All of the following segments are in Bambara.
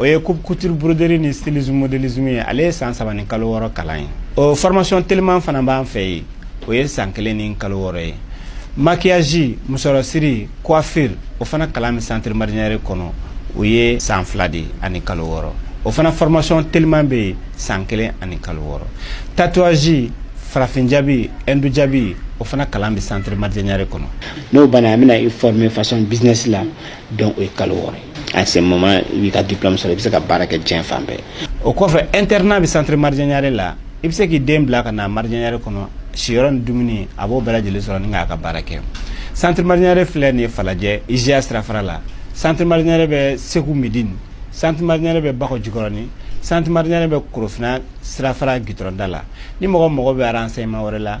o ye coupe couture broderie ni stylisme modélisme ye ale ye san saba ni kalo wɔɔrɔ kalan ye o formation teliman fana b'an fɛ yen o ye san kelen ni kalo wɔɔrɔ ye maquillage musɔrɔsiri coiffure o fana kalan bɛ centre marijɛ ɲare kɔnɔ o ye san fila de ani kalo wɔɔrɔ o fana formation teliman bɛ yen san kelen ani kalo wɔɔrɔ tatouage farafin jabi hindu jabi o fana kalan bɛ centre marijɛ ɲare kɔnɔ n'o banna an bɛna i former façon business la donc o ye kalo wɔɔrɔ ye à ce moment i b'i ka diplôme sɔrɔ i bɛ se ka baara kɛ diɲɛ fan bɛɛ o kɔfɛ internat bɛ centre marijɛ ɲare la i bɛ se k'i den bila ka na marijɛ ɲare kɔnɔ siyɔrɔ ni dumuni a b'o bɛɛ lajɛlen sɔrɔ ni k'a ka baara kɛ centre marijɛ ɲare filɛ nin ye falajɛ IJA sirafara la centre marijɛ ɲare bɛ segu medini centre marijɛ ɲare bɛ bakɔ jikɔrɔni centre marijɛ ɲare bɛ korofina sirafara gitɔrɔnda la ni mɔgɔ mago bɛ renseignement wɛrɛ la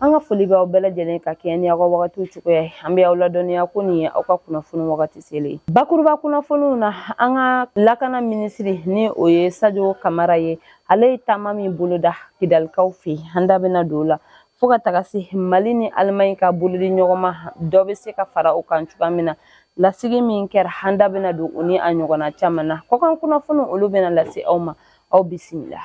An ka foli b'aw bɛɛ lajɛlen ka kɛɲɛ ni aw ka wagatiw cogoya ye. An bɛ aw ladɔnniya ko nin ye aw ka kunnafoni wagati selen ye. Bakuruba kunnafoniw na, an ka lakana minisiri ni o ye Sajo Kamara ye, ale ye taama min boloda Kidalikaw fɛ, an da bɛna don o la. Fo ka taga se Mali ni Alimaɲi ka bolodiɲɔgɔnma dɔ bɛ se ka fara o kan cogoya min na, lasigi min kɛra, an da bɛna don o ni a ɲɔgɔnna caman na. Kɔkan kunnafoniw olu bɛna lase aw ma, aw bisimila.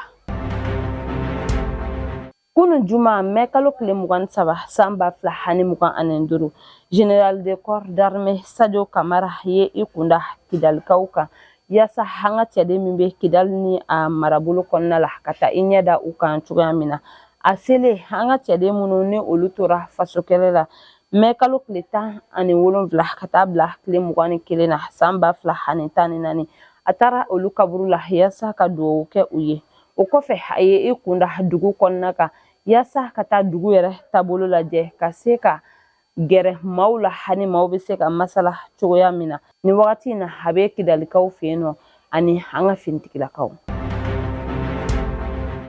Kunun juma mɛ kalo tile mugan ni saba san ba fila ani mugan ani duuru général de corps d'armée sajo kamara ye i kunda kidalikaw kan yaasa an ka cɛden min bɛ kidali ni a marabolo kɔnɔna la ka taa i ɲɛ da u kan cogoya min na a selen an ka cɛden minnu ni olu tora faso kɛlɛ la mɛ kalo tile tan ani wolonwula ka taa bila tile mugan ni kelen na san ba fila ani tan ni naani a taara olu kaburu la yaasa ka dugawu kɛ u ye o kɔfɛ a ye i kunda dugu kɔnɔna kan yaasa ka taa dugu yɛrɛ taabolo lajɛ ka se ka gɛrɛ maaw la ani maaw bɛ se ka masala cogoya min na nin wagati in na a bɛ kidalikaw fɛ yen nɔ ani an ka finitigilakaw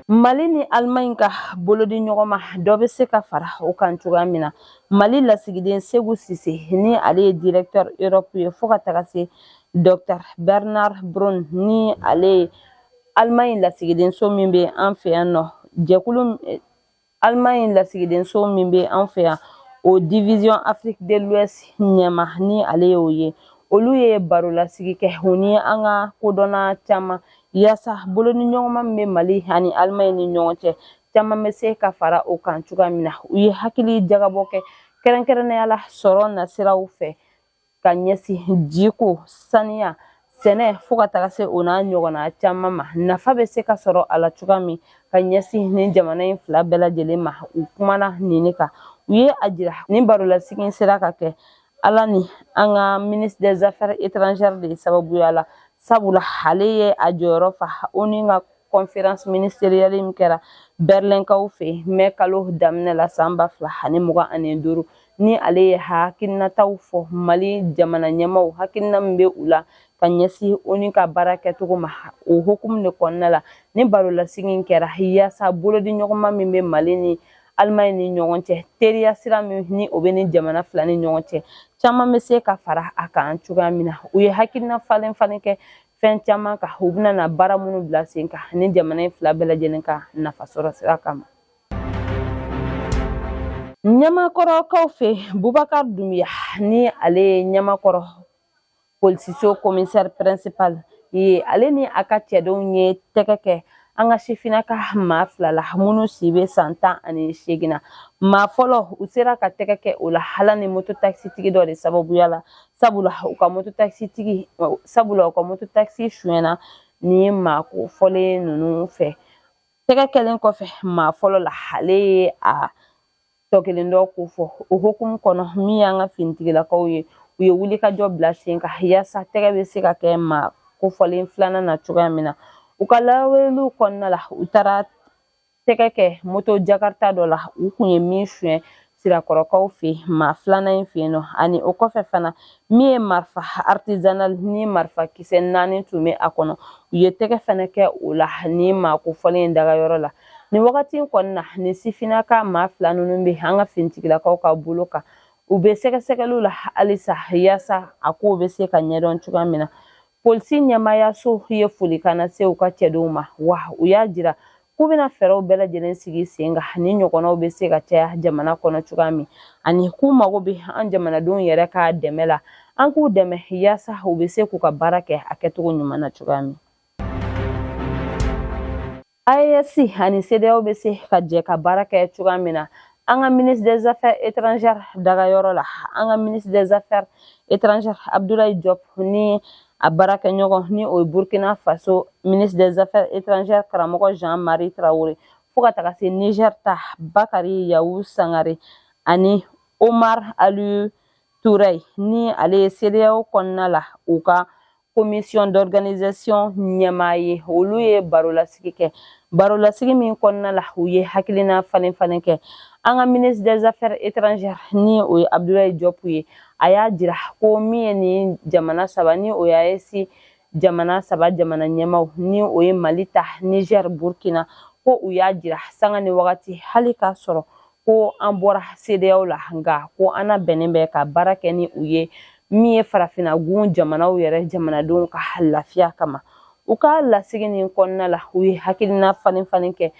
mali ni alimaɲi ka bolodiɲɔgɔnma dɔ bɛ se ka fara o kan cogoya min na mali lasigiden seku sise ni ale ye directeur europe ye fo ka taga se docteur bernard braun ni ale ye Allemagne lasigidenso min bɛ an fɛ yan nɔ jɛkulu Allemagne lasigidenso min bɛ an fɛ yan o division Afrique de l'Ouest ɲɛmaa ni ale y'o ye olu ye baro lasigi kɛ u ni an ka kodɔnna caman yaasa bolodiɲɔgɔnma min bɛ Mali ani Allemagne ni ɲɔgɔn cɛ caman bɛ se ka fara o kan cogoya min na u ye hakili jagabɔ kɛ kɛrɛnkɛrɛnnenya la sɔrɔ nasiraw fɛ ka ɲɛsin jiko saniya sɛnɛ fo ka taga se o n'a ɲɔgɔnna caman ma nafa bɛ se ka sɔrɔ a la cogoya min ka ɲɛsin nin jamana in fila bɛɛ lajɛlen ma u kumana nin kan u ye a jira ni barolasigi sera ka kɛ ala ni an ka ministre des affaires étrangères de sababuya la sabula ale ye a jɔyɔrɔ fa ONU ka conférence ministérielle min kɛra berlɛnkaw fɛ mɛ kalo daminɛ la san ba fila ani mugan ani duuru ni ale ye hakilinataw fɔ mali jamana ɲɛmaaw hakilina min bɛ u la ka ɲɛsin ONU ka baara kɛcogo ma o hukumu de kɔnɔna la ni barolasigi kɛra yaasa bolodiɲɔgɔnma min bɛ mali ni alimaɲi ni ɲɔgɔn cɛ teriya sira min ni o bɛ ni jamana fila ni ɲɔgɔn cɛ caman bɛ se ka fara a kan cogoya min na u ye hakilina falen falen kɛ fɛn caman kan u bɛna na baara minnu bila sen kan ni jamana in fila bɛɛ lajɛlen ka nafa sɔrɔ sira kama ɲamakɔrɔkaw fɛ bubakar dumbuya ni ale ye ɲamakɔrɔ polisiso commissaire principal ye ale ni a ka cɛdenw ye tɛgɛ kɛ an ka sifinnaka maa fila la minnu si bɛ san tan ani seegin na maa fɔlɔ u sera ka tɛgɛ kɛ o la ala ni moto takisitigi dɔ de sababuya la sabula u ka moto takisi tigi sabula u ka moto takisi sonyɛna ni maa kofɔlen ninnu fɛ tɛgɛ kɛlen kɔfɛ maa fɔlɔ la ale ye a tɔ kelen dɔ ko fɔ o hukumu kɔnɔ min y'an ka finitigilakaw ye u ye wulikajɔ bila sen kan yaasa tɛgɛ bɛ se ka kɛ maa kofɔlen filanan na cogoya min na u ka lawaleliw kɔnɔna la u taara tɛgɛ kɛ moto jakarita dɔ la u kun ye min suɲɛ sirakɔrɔkaw fɛ maa filanan in fɛ yen nɔ ani o kɔfɛ fana min ye marifa artisanal ni marifa kisɛ naani tun bɛ a kɔnɔ u ye tɛgɛ fana kɛ o la ni maa kofɔlen in dagayɔrɔ la nin wagati in kɔnɔna nin sifinnaka maa fila ninnu bɛ an ka finitigilakaw ka bolo kan u bɛ sɛgɛsɛgɛliw la halisa yaasa a kow bɛ se ka ɲɛdɔn cogoya min na Polisi ɲɛmaayaso ye folikan lase u ka cɛdenw ma wa u y'a jira k'u bɛna fɛɛrɛw bɛɛ lajɛlen sigi sen kan ni ɲɔgɔnnaw bɛ se ka caya jamana kɔnɔ cogoya min ani k'u mago bɛ an jamanadenw yɛrɛ ka dɛmɛ la an k'u dɛmɛ yaasa u bɛ se k'u ka baara kɛ a kɛcogo ɲuman na cogoya min AES ani CEDEAO bɛ se ka jɛ ka baara kɛ cogoya min na an ka ministre des affaires étrangères dagayɔrɔ la an ka ministre des affaires étrangères Abdoulaye Diop ni a baarakɛɲɔgɔn ni o ye Burkina Faso ministre des affaires étrangères karamɔgɔ Jean-Marie Traoré fo ka taga se Niger ta Bakari Yawu Sangare ani Omar Alieu Touray ni ale ye CEDEAO kɔnɔna la u ka commission d'organisation ɲɛmaa ye olu ye barolasigi kɛ barolasigi min kɔnɔna la u ye hakilina falen falen kɛ an ka ministre des affaires étrangères ni o ye abdoulaye diop ye a y'a jira ko min ye nin jamana saba ni o ye AES jamana saba jamana ɲɛmaaw ni o ye mali ta niger burkina ko u y'a jira sanga ni wagati hali k'a sɔrɔ ko an bɔra CEDEAO la nka ko an labɛnnen bɛ ka baara kɛ ni u ye min ye farafinna gun jamanaw yɛrɛ jamanadenw ka lafiya kama u ka lasigi nin kɔnɔna la u ye hakilina falen falen kɛ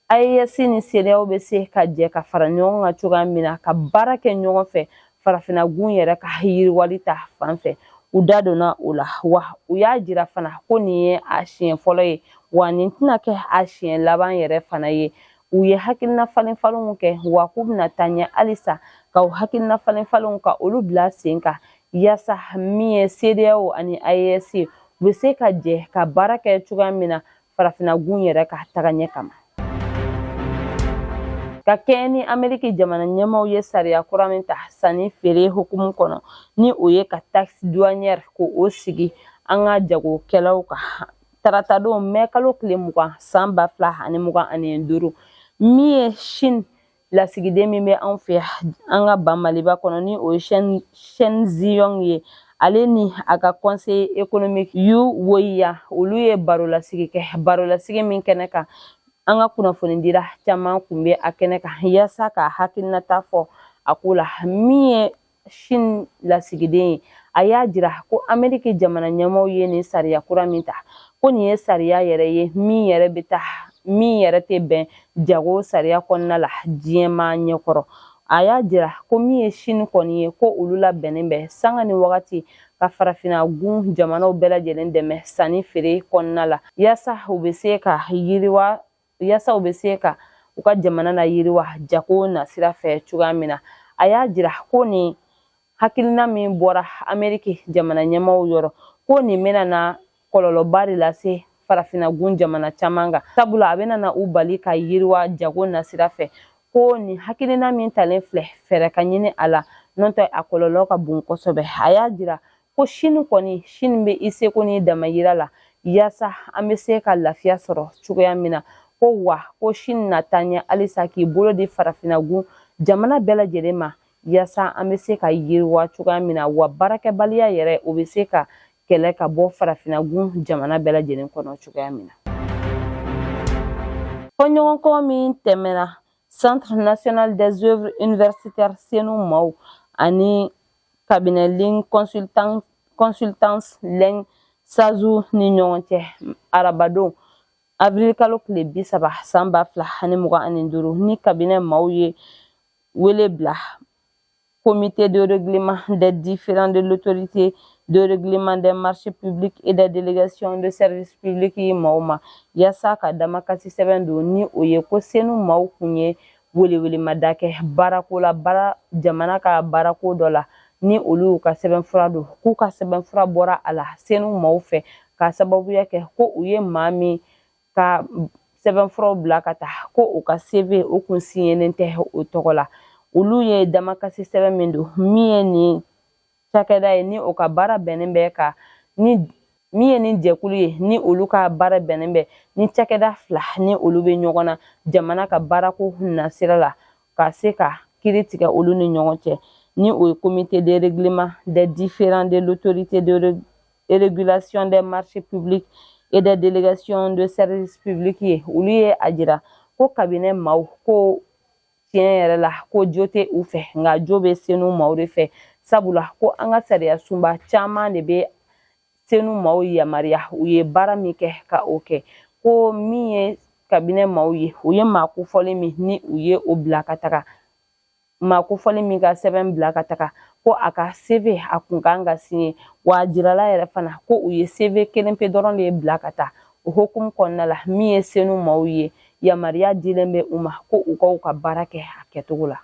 AES ni CEDEAO bɛ se ka jɛ ka fara ɲɔgɔn kan cogoya min na ka baara kɛ ɲɔgɔn fɛ farafinna gun yɛrɛ ka yiriwali ta fan fɛ u da donna o la wa u y'a jira fana ko nin ye a siɲɛ fɔlɔ ye wa nin tɛna kɛ a siɲɛ laban yɛrɛ fana ye u ye hakilina falen falenw kɛ wa k'u bɛna taa ɲɛ halisa ka u hakilina falen falenw ka olu bila sen kan yaasa min ye CEDEAO ani AES ye u bɛ se ka jɛ ka baara kɛ cogoya min na farafinna gun yɛrɛ ka taga ɲɛ kama ka kɛɲɛ ni ameriki jamana ɲɛmaaw ye sariya kura min ta sanni feere hukumu kɔnɔ ni o ye ka taxe douanière k'o sigi an ka jagokɛlaw kan tarata don mɛ kalo tile mugan san ba fila ani mugan ani duuru min ye Chine lasigiden min bɛ anw fɛ an ka ba maliba kɔnɔ ni o ye Chen Zhihong ye ale ni a ka conseil économique yu woyiya olu ye barolasigi kɛ barolasigi min kɛnɛ kan an ka kunnafonidila caman kun bɛ a kɛnɛ kan yaasa ka hakilinata fɔ a ko la min ye Chine lasigiden ye a y'a jira ko ameriki jamana ɲɛmaaw ye nin sariya kura min ta ko nin ye sariya yɛrɛ ye min yɛrɛ bɛ ta min yɛrɛ tɛ bɛn jago sariya kɔnɔna la diɲɛmaa ɲɛkɔrɔ a y'a jira ko min ye Chine kɔni ye ko olu labɛnnen bɛ sanga ni wagati ka farafinna gun jamanaw bɛɛ lajɛlen dɛmɛ sanni feere kɔnɔna la yaasa u bɛ se ka yiriwa yasa u bɛ se ka u ka jamana layiriwa jago nasira fɛ cogoya min na a y'a jira ko nin hakilina min bɔra ameriki jamana ɲɛmaaw yɔrɔ ko nin bɛna na kɔlɔlɔba de lase farafinagun jamana caman kan sabula a bɛna na u bali ka yiriwa jago nasira fɛ ko nin hakilina min talen filɛ fɛɛrɛ ka ɲini a la n'o tɛ a kɔlɔlɔ ka bon kosɛbɛ a y'a jira ko Chine kɔni Chine bɛ i seko n'i damayira la yaasa an bɛ se ka lafiya sɔrɔ cogoya min na ko wa ko Chine na taa ɲɛ halisa k'i bolo di farafinagun jamana bɛɛ lajɛlen ma yaasa an bɛ se ka yiriwa cogoya min na wa baarakɛbaliya yɛrɛ o bɛ se ka kɛlɛ ka bɔ farafinagun jamana bɛɛ lajɛlen kɔnɔ cogoya min na fɔɲɔgɔnkɔ min tɛmɛna centre national des œuvres universitaires CENOU maaw ani cabinet ligne consultance lɛn sazu ni ɲɔgɔn cɛ arabadon avril kalo tile bi saba san ba fila ani mugan ani duuru ni kabinɛ maaw ye wele bila comité de règlement des différends de l'autorité de règlement des marchés publics et des délégations de services publics yen maaw ma yaasa ka damakasi sɛbɛn don ni o ye ko senu maaw kun ye welewelemada kɛ baarako la baara jamana ka baarako dɔ la ni olu y'u ka sɛbɛnfura don k'u ka sɛbɛnfura bɔra a la senu maaw fɛ k'a sababuya kɛ ko u ye maa min ka sɛbɛnfuraw bila ka taa ko u ka cv o kun siɲɛlen tɛ o tɔgɔ la olu ye damakasi sɛbɛn min don min ye nin cakɛda ye ni o ka baara bɛnnen bɛ ka ni min ye nin jɛkulu ye ni olu ka baara bɛnnen bɛ ni cakɛda fila ni olu bɛ ɲɔgɔn na jamana ka baarako nasira la ka se ka kiri tigɛ olu ni ɲɔgɔn cɛ ni o ye comité de règlement des différends de l'autorité de régulation des marchés publics et des délégations de services publics ye olu ye a jira ko kabinɛ maaw ko tiɲɛ yɛrɛ la ko jo tɛ u fɛ nka jo bɛ senu maaw de fɛ sabula ko an ka sariya sunba caman de bɛ senu maaw yamaruya u ye baara min kɛ ka o kɛ ko min ye kabinɛ maaw ye u ye maa kofɔlen min ni u ye o bila ka taga maa kofɔlen min ka sɛbɛn bila ka taga ko a ka cv a kun kan ka siɲɛ wa a jirala yɛrɛ fana ko u ye cv kelen pe dɔrɔn de bila ka taa o hukumu kɔnɔna la min ye senu maaw ye yamaruya dilen bɛ u ma ko u ka u ka baara kɛ a kɛcogo la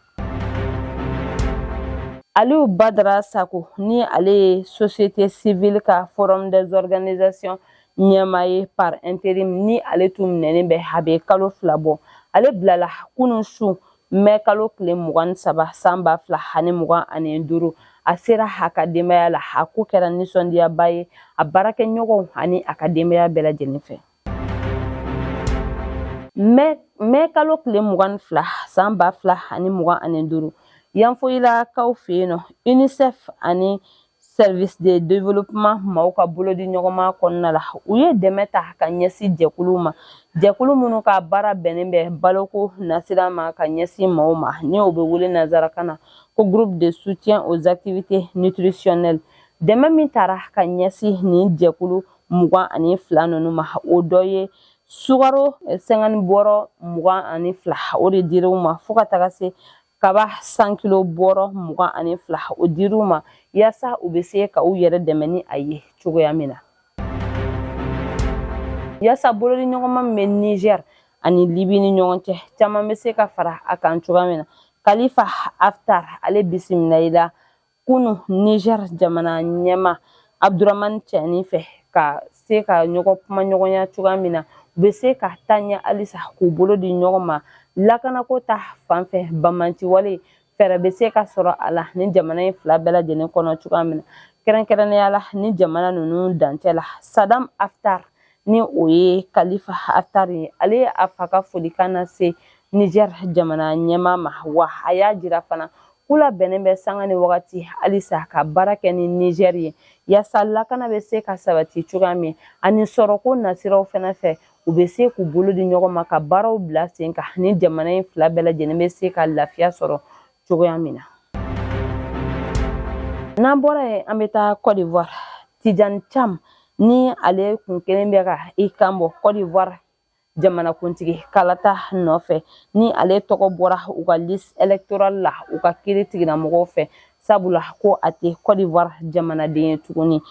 aliyu badara sako ni ale ye société civile ka forum des organisations ɲɛmaa ye par intérim ni ale tun minɛnen bɛ a bɛ kalo fila bɔ ale bilala kunun su mɛ kalo tile mugan ni saba san ba fila ani mugan ani duuru a sera a ka denbaya la a ko kɛra nisɔndiyaba ye a baarakɛɲɔgɔnw ani a ka denbaya bɛɛ lajɛlen fɛ mɛ kalo tile mugan ni fila san ba fila ani mugan ani duuru yanfoyilakaw fɛ yen nɔ unicef ani service de développement maaw ka bolodi ɲɔgɔnma kɔnɔna la u ye dɛmɛ ta ka ɲɛsin jɛkulu ma jɛkulu minnu ka baara bɛnnen bɛ baloko nasira ma ka ɲɛsin maaw ma ni o bɛ wele nanzarakan na ko groupe de soutien aux activités nutritionnelles dɛmɛ min tara ka ɲɛsin nin jɛkulu mugan ani fila ninnu ma o dɔ ye sukaro cinquante bɔrɔ mugan ani fila o de dira u ma fo ka taga se kaba cent kilo bɔrɔ mugan ani fila o dira u ma yaasa u bɛ se ka u yɛrɛ dɛmɛ ni a ye cogoya min na yaasa bolodi ɲɔgɔnma min bɛ nizɛr ani libi ni ɲɔgɔn cɛ caman bɛ se ka fara a kan cogoya min na khalifa haftar ale bisimilala kunu niger jamana ɲɛma abdurahmani tiani fɛ ka se ka ɲɔgɔn kuma ɲɔgɔnya cogoya min na u bɛ se ka taa ɲɛ halisa k'u bolo di ɲɔgɔn ma lakanako ta fan fɛ bamanciwale fɛɛrɛ bɛ se ka sɔrɔ a la ni jamana in fila bɛɛ lajɛlen kɔnɔ cogoya min na kɛrɛnkɛrɛnnenya la ni jamana ninnu dancɛ la sadam haftar ni o ye kalifa haftar ye ale ye a fa ka folikan lase niger jamana ɲɛma ma wa a y'a jira fana k'u labɛnnen bɛ sanga ni wagati halisa ka baara kɛ ni niger ye yasa lakana bɛ se ka sabati cogoya min ani sɔrɔko nasiraw fana fɛ u bɛ se k'u bolo di ɲɔgɔn ma ka baaraw bila sen kan ni jamana in fila bɛɛ lajɛlen bɛ se ka lafiya sɔrɔ cogoya min na n'an bɔra yen an bɛ taa cote d'ivoire tijani cam ni ale kun kɛlen bɛ ka i kanbɔ cote d'ivoire jamanakuntigi kalata nɔfɛ ni ale tɔgɔ bɔra u ka liste electorale la u ka kiritigɛlamɔgɔw fɛ sabula ko a tɛ cote d'ivoire jamanaden ye tuguni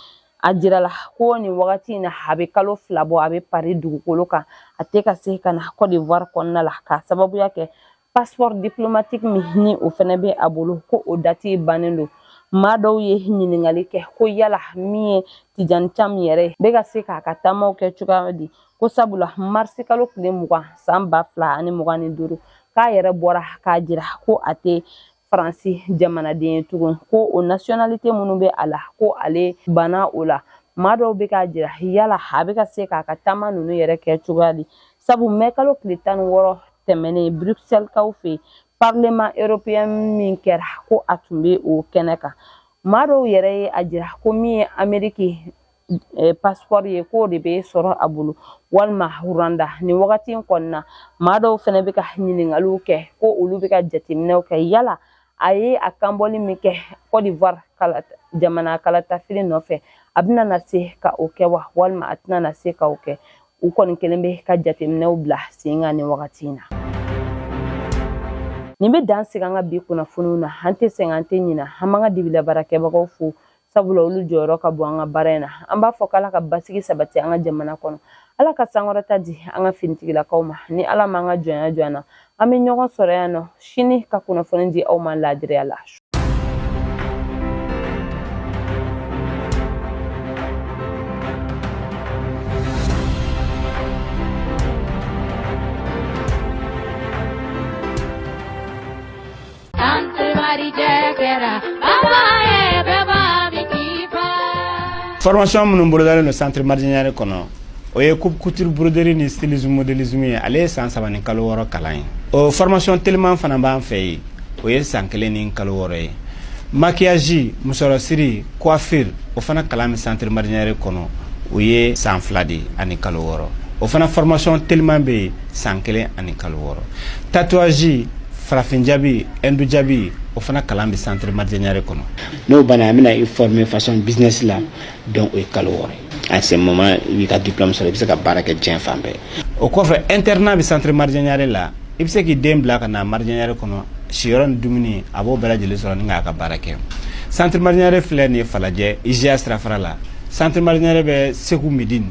a jirala ko nin wagati in na a bɛ kalo fila bɔ a bɛ pari dugukolo kan a tɛ ka se ka na cote d'ivoire kɔnɔna la k'a sababuya kɛ passeport diplomatique min ni o fɛnɛ bɛ a bolo ko o dati bannen don maa dɔw ye ɲininkali kɛ ko yala min ye tijani cam yɛrɛ bɛ ka se k'a ka taamaw kɛ cogoya di ko sabula marisi kalo tile mugan san ba fila ani mugan ni duuru k'a yɛrɛ bɔra k'a jira ko a tɛ faransi jamanaden ye tugun ko o nasiyonalite minnu bɛ a la ko ale banna o la maa dɔw bɛ k'a jira yala a bɛ ka se k'a ka taama ninnu yɛrɛ kɛ cogoya di sabu mɛkalo tile tan ni wɔɔrɔ tɛmɛnen bruxelleskaw fɛ parlement europeen min kɛra ko a tun bɛ o kɛnɛ kan maa dɔw yɛrɛ ye a jira ko min ye ameriki pasipɔri ye k'o de bɛ sɔrɔ a bolo walima rwanda nin wagati in kɔnɔna na maa dɔw fana bɛ ka ɲininkaliw kɛ ko olu bɛ ka jateminɛw kɛ yala a ye a kanbɔli min kɛ kɔdiwari jamana kalatafili nɔfɛ a bɛna na se ka o kɛ wa walima a tɛna na se ka o kɛ u kɔni kɛlen bɛ ka jateminɛw bila sen kan nin wagati in na nin bɛ dan sigi an ka bi kunnafoniw na an tɛ sɛgɛn an tɛ ɲinɛ an b'an ka dibila baarakɛbagaw fo sabula olu jɔyɔrɔ ka bon an ka baara in na an b'a fɔ k'ala ka basigi sabati an ka jamana kɔnɔ ala ka sankɔrɔta di an ka finitigilakaw ma ni ala m'an ka jɔnya jɔ an na an bɛ ɲɔgɔn sɔrɔ yan nɔ sini ka kunnafoni di aw ma laadiriya la Formation minnu bolodalen don centre Maridiè Niaré kɔnɔ o ye coupe couture broderie ni stylisme modélisme ye ale ye san saba ni kalo wɔɔrɔ kalan ye o formation teliman fana b'an fɛ yen o ye san kelen ni kalo wɔɔrɔ ye maquillage musɔrɔsiri coiffure o fana kalan bɛ centre Maridiè Niaré kɔnɔ o ye san fila de ani kalo wɔɔrɔ o fana formation teliman bɛ yen san kelen ani kalo wɔɔrɔ tatouage farafin jabi hindu jabi o fana kalan bɛ centre Maridiè Niaré kɔnɔ n'o banna an bɛna i former fashion business la donc o ye kalo wɔɔrɔ ye à ce moment i b'i ka diplôme sɔrɔ i bɛ se ka baara kɛ diɲɛ fan bɛɛ o kɔfɛ internat bɛ centre Maridiè Niaré la i bɛ se k'i den bila ka na Maridiè Niaré kɔnɔ siyɔrɔ ni dumuni a b'o bɛɛ lajɛlen sɔrɔ ni k'a ka baara kɛ centre Maridiè Niaré filɛ nin ye Falajɛ IJA sirafara la centre Maridiè Niaré bɛ Segu Medini